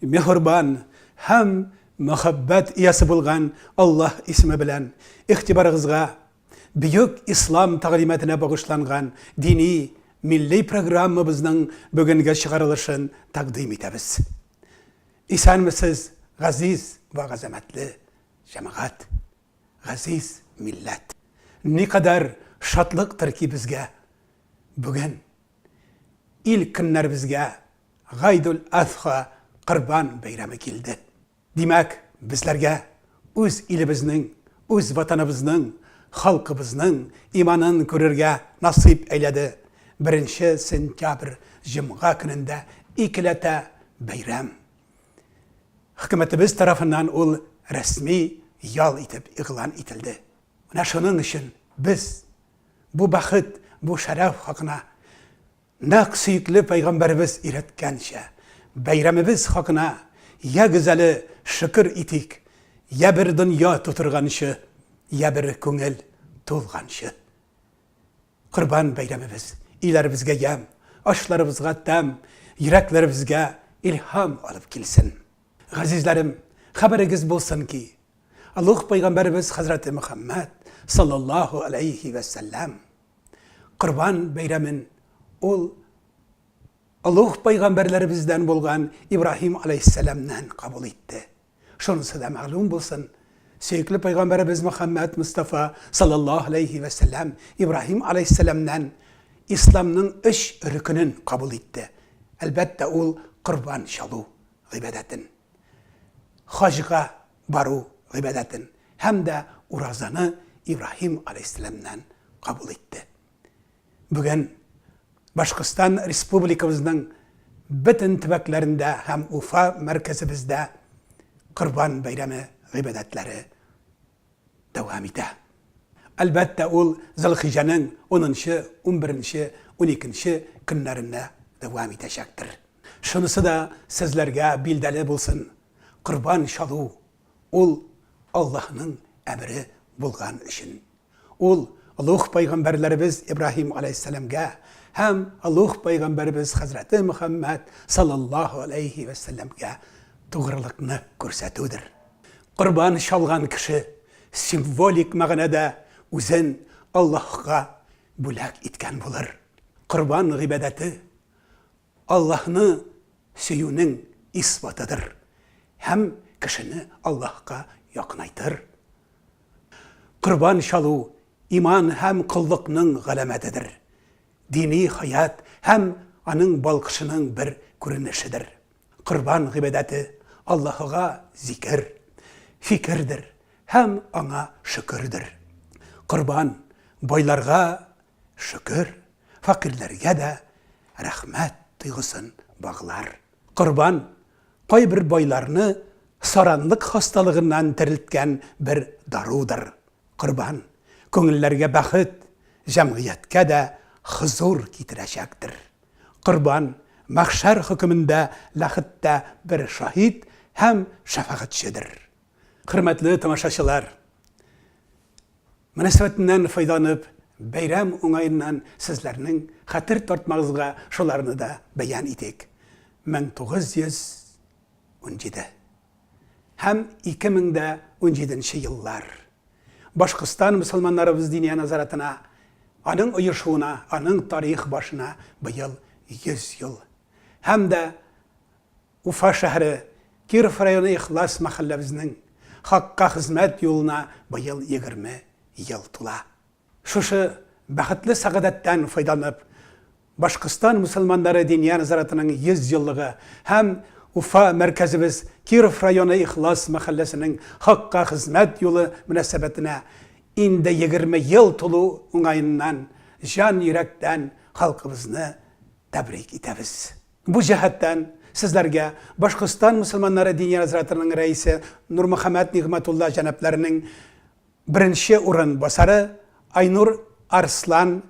Меһорбан һәм мәхәббәт иясе булган Аллаһ исеме белән игътибарыгызга Бөек Ислам тәгълиматына багышланган дини милли программабызның бүгенге чыгарылышын тәкъдим итәбез. Исәнмесез, газиз вә газәмәтле җәмәгать, газиз милләт! Никадәр шатлыктыр ки безгә, бүген ил көннәребезгә Гайдул Азха Корбан бәйрәме килде. Димәк, безләргә үз илебезнең, үз Ватаныбызның, халкыбызның иманын күрергә насыйп әйләде, беренче сентябрь җомга көнендә икеләтә бәйрәм. Хөкүмәтебез тарафыннан ул рәсми ял итеп игълан ителде. Менә шуның өчен без бу бәхет, бу шәрәф хакына Нәкъ сөекле пәйгамбәребез өйрәткәнчә, бәйрәмебез хакына ягез әле шөкер итик, йә бер дөнья тутырганчы, йә бер күңел тулганчы. Корбан бәйрәмебез өйләребезгә ямь, ашларыбызга тәм, йөрәкләребезгә илһам алып килсен. Газизләрем, хәбәрегез булсын ки, олуг пәйгамбәребез хәзрәте Мөхәммәд салләллаһу аләйһи вә сәлләм, Корбан бәйрәмен ул олуг пайгамбәрләребездән булган Ибраһим алейһиссәламнән кабул итте. Шунысы да мәгълүм булсын, сөекле пайгамбәребез Мөхәммәд Мустафа саллаллаһу алейһи вә сәлләм Ибраһим алейһиссәламнән исламның өч рөкенен кабул итте. Әлбәттә, ул корбан чалу гыйбадәтен. Хаҗга бару гыйбадәтен һәм дә уразаны Ибраһим галәйһиссәламнән кабул итте. Бүген Башкортстан республикабызның бөтен төбәкләрендә һәм Уфа мәркәзебездә Корбан бәйрәме гыйбадәтләре дәвам итә. Әлбәттә, ул Зилхиҗәнең 10 нчы, 11 нче, 12 нче көннәрендә дәвам итәчәктер. Шунысы да сезләргә билдәле булсын, корбан чалу, ул Аллаһның әмере булган өчен. Ул олуг пәйгамбәрләребез Ибраһим галәйһиссәламгә һәм олуг пәйгамбәребез хәзрәте Мөхәммәд саллаллаһу галәйһи вә сәлләмгә тугрылыкны күрсәтүдер. Корбан чалган кеше символик мәгънәдә үзен Аллаһка бүләк иткән булыр. Корбан гыйбадәте Аллаһны сөюнең исбатыдыр һәм кешене Аллаһка якынайтыр. Корбан чалу иман һәм коллыкның галәмәтедер, дини хәят һәм аның балкышының бер күренешедер. Корбан гыйбадәте Аллаһыга зикер, фикердер һәм Аңа шөкердер. Корбан, байларга, шөкер, фәкыйрьләргә дә рәхмәт тойгысын баглар. Корбан кайбер байларны саранлык хасталыгыннан терелткән бер дарудыр. Корбан күңелләргә бәхет, җәмгыятькә дә хозур китерәчәктер. Корбан мәхшәр хөкемендә ләхеттә бер шаһит һәм шәфәгатьчедер. Хөрмәтле тамашачылар! Мөнәсәбәтеннән файдаланып, бәйрәм уңаеннан сезләрнең хәтер тартмагызга шуларны да бәян итик. 1917 һәм 2017 еллар. Башкортстан мөселманнарыбыз Диния назаратына, аның оешуына, аның тарих башына быел 100 ел. Һәм дә Уфа шәһәре, Киров районы ихлас мәхәлләбезнең Хакка хезмәт юлына быел егерме ел тула. Шушы бәхетле сәгадәттән файдаланып, Башкортстан мөселманнары Диния нәзарәтенең 100 еллыгы һәм Уфа мәркәзебез Киров районы ихлас мәхәлләсенең Хакка хезмәт юлы мөнәсәбәтенә инде егерме ел тулу уңаеннан җан йөрәктән халкыбызны тәбрик итәбез. Бу җәһәттән, сезләргә Башкортстан мөселманнары дини разрятының рәисе Нурмөхәммәт Нигъмәтулла җәнапларының беренче урын басары Айнур Арслан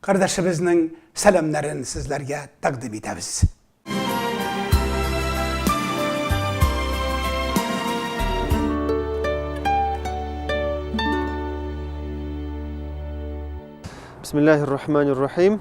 кардәшебезнең сәламнәрен сезләргә тәкъдим итәбез. Бисмиллаһир-рахманир-рахим.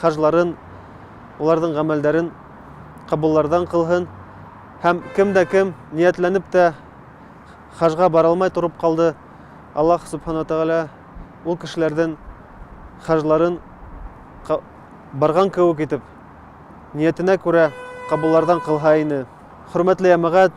хаҗларын, аларның гамәлдәрен кабуллардан кылһын. Һәм кем дә кем ниятләнеп тә хаҗга бара алмай торып калды, Аллаһ Субхана Тәгалә ул кешеләрдән хаҗларын барган кебек итеп, ниятенә күрә кабуллардан кылһа ине. Хөрмәтле ямәгать,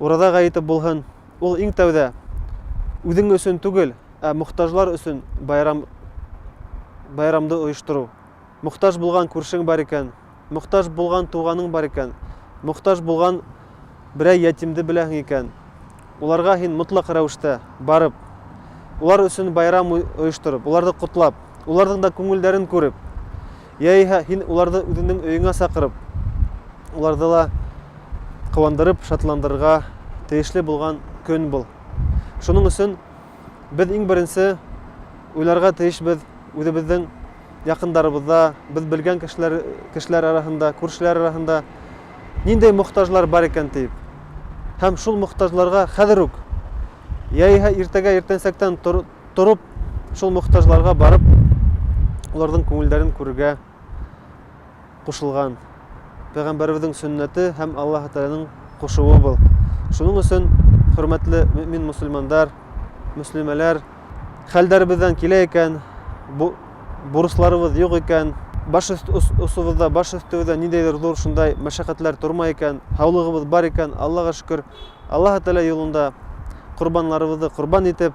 Ураза гаете булһын, ул иң тәүдә үзең өчен түгел, ә мохтаҗлар өчен байрам байрамды оештыру. Мохтаҗ булган күршең бар икән, мохтаҗ булган туганың бар икән, мохтаҗ булган берәй ятимде беләһең икән, уларга һин мотлак рәвештә барып, улар өчен байрам оештырып, уларны котлап, уларның да күңелләрен күреп, Яиһә һин уларны үзеңнең өеңә сакырып, уларны да куандырып, шатландырырга тиешле булган көн бул. Шуның өчен без иң беренче уйларга тиешбез үзебезнең якындарыбызда, без белгән кешеләр, кешеләр арасында, күршеләр арасында нинди мохтаҗлар бар икән дип. Һәм шул мохтаҗларга хәзер үк, яиһә иртәгә иртәнсәктән Торып, шул мохтаҗларга барып, аларның күңелләрен күрергә кушылган. Пәйгамбәребезнең сөннәте һәм Аллаһы Тәгаләнең кушуы бу. Шуның өчен, хөрмәтле мөэмин мөселмандар, мөслимәләр, хәлдәребездән килә икән, бу бурычларыбыз юк икән, баш остыбызда, баш өстебездә ниндәйдер зур шундай мәшәкатьләр тормый икән, һаулыгыбыз бар икән, Аллага шөкер, Аллаһы Тәгалә юлында корбаннарыбызны корбан итеп,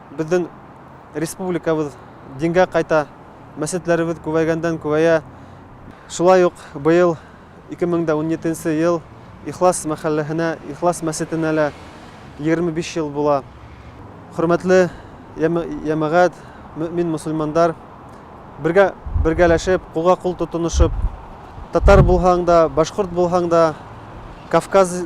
Безнең республикабыз дингә кайта, мәчетләребез күбәйгәндән-күбәя. Шулай ук быел, 2017 нче ел, Ихлас мәхәлләһенә, Ихлас мәчетенә лә 25 ел була. Хөрмәтле җәмәгать, мөэмин-мөселмандар, бергә, бергәләшеп, кулга-кул тотынышып, татар булһаң да, башкорт булһаң да, Кавказ,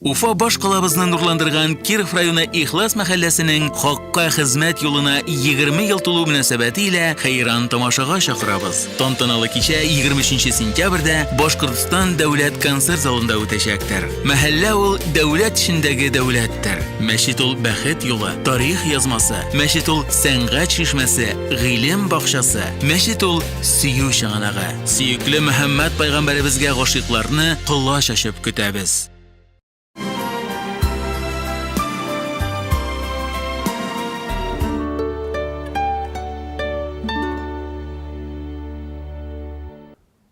Уфа башкалабызны нурландырган Киров районы Ихлас мәхәлләсенең хакка хезмәт юлына 20 ел тулу мөнәсәбәте илә хәйран тамашага чакырабыз. Тантаналы кичә 23 сентябрьдә Башкортстан дәүләт концерт залында үтәчәктер. Мәхәллә ул дәүләт эчендәге дәүләттер. Мәчет ул бәхет юлы, тарих язмасы. Мәчет ул сәнгать шишмәсе, гыйлем бакчасы. Мәчет ул Сөю чыганагы, сөекле Мөхәммәд пәйгамбәребезгә гашыйкларны колач ачып көтәбез.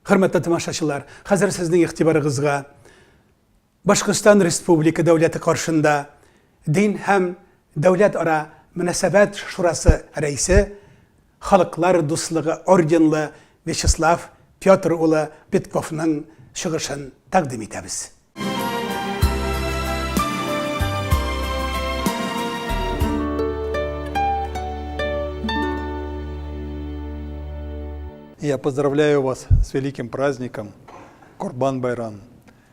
Хөрмәтле тамашачылар, хәзер сезнең игътибарыгызга Башкортстан Республика Дәүләте каршында Дин һәм дәүләт-ара мөнәсәбәт шурасы рәисе, Халыклар дуслыгы орденлы Вячеслав Петр улы Петковның чыгышын тәкъдим итәбез. Я поздравляю вас с великим праздником Корбан Байрам!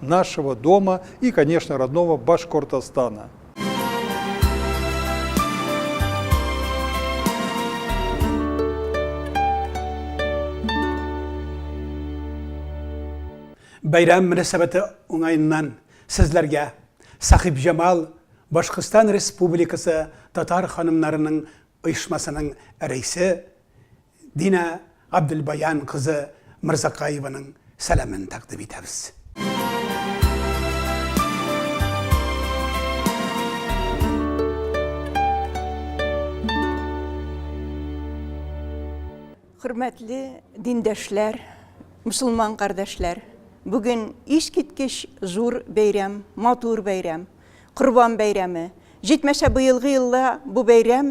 нашего дома и, конечно, родного Башкортостана. Бәйрәм мөнәсәбәте уңаеннан сезләргә Сахиб Җамал Башкортстан Республикасы татар ханымнарының оешмасының рәисе Динә Габделбаян кызы Мырзакаеваның сәламен тәкъдим итәбез. Хөрмәтле диндәшләр, мөселман кардәшләр! Бүген искиткеч зур бәйрәм, матур бәйрәм, Корбан бәйрәме. Җитмәсә, быелгы елда бу бәйрәм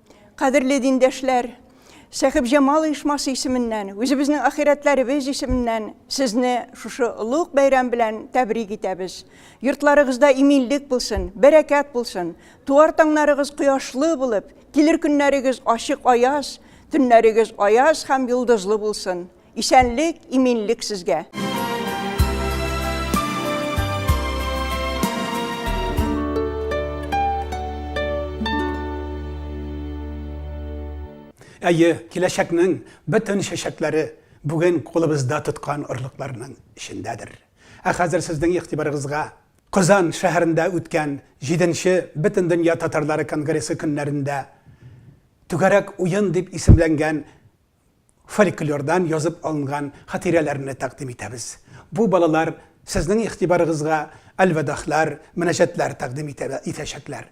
Кадерле диндәшләр! Сәхибҗамал оешмасы исеменнән, үзебезнең ахирәтләребез исеменнән сезне шушы олуг бәйрәм белән тәбрик итәбез. Йортларыгызда иминлек булсын, бәрәкәт булсын, туар таңнарыгыз кояшлы булып, килер көннәрегез ачык аяз, төннәрегез аяз һәм йолдызлы булсын. Исәнлек, иминлек сезгә! Әйе, киләчәкнең бөтен чәчәкләре бүген кулыбызда тоткан орлыкларның эчендәдер. Ә хәзер сезнең игътибарыгызга Казан шәһәрендә үткән җиденче Бөтендөнья татарлары конгрессы көннәрендә Түгәрәк уен дип исемләнгән фольклордан язып алынган хатирәләрне тәкъдим итәбез. Бу балалар сезнең игътибарыгызга әлвәдахлар, мөнәҗәтләр тәкъдим итәчәкләр.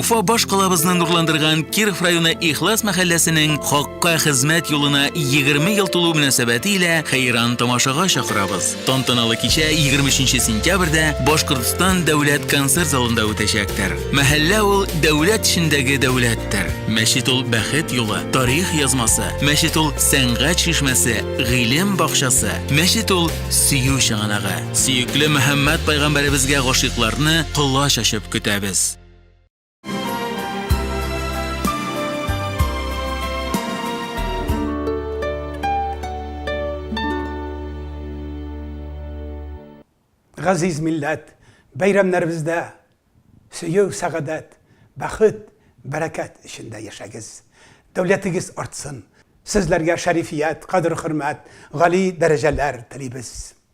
Уфа баш калабызны нурландырган Киров районы Ихлас мәхәлләсенең хакка хезмәт юлына 20 ел тулу мөнәсәбәте илә хәйран тамашага чакырабыз. Тантаналы кичә 23 сентябрьдә Башкортстан дәүләт концерт залында үтәчәктер. Мәхәллә ул дәүләт эчендәге дәүләттер. Мәчет ул бәхет юлы, тарих язмасы. Мәчет ул сәнгать шишмәсе, гыйлем бакчасы. Мәчет ул сөю чыганагы. Сөекле Мөхәммәд пайгамбәребезгә гашыйкларны колач ачып көтәбез. Газиз милләт, бәйрәмнәребездә сөю, сәгадәт, бәхет, бәрәкәт эчендә яшәгез. Дәүләтегез артсын. Сезләргә шәрифият, кадер-хөрмәт, гали дәрәҗәләр телибез.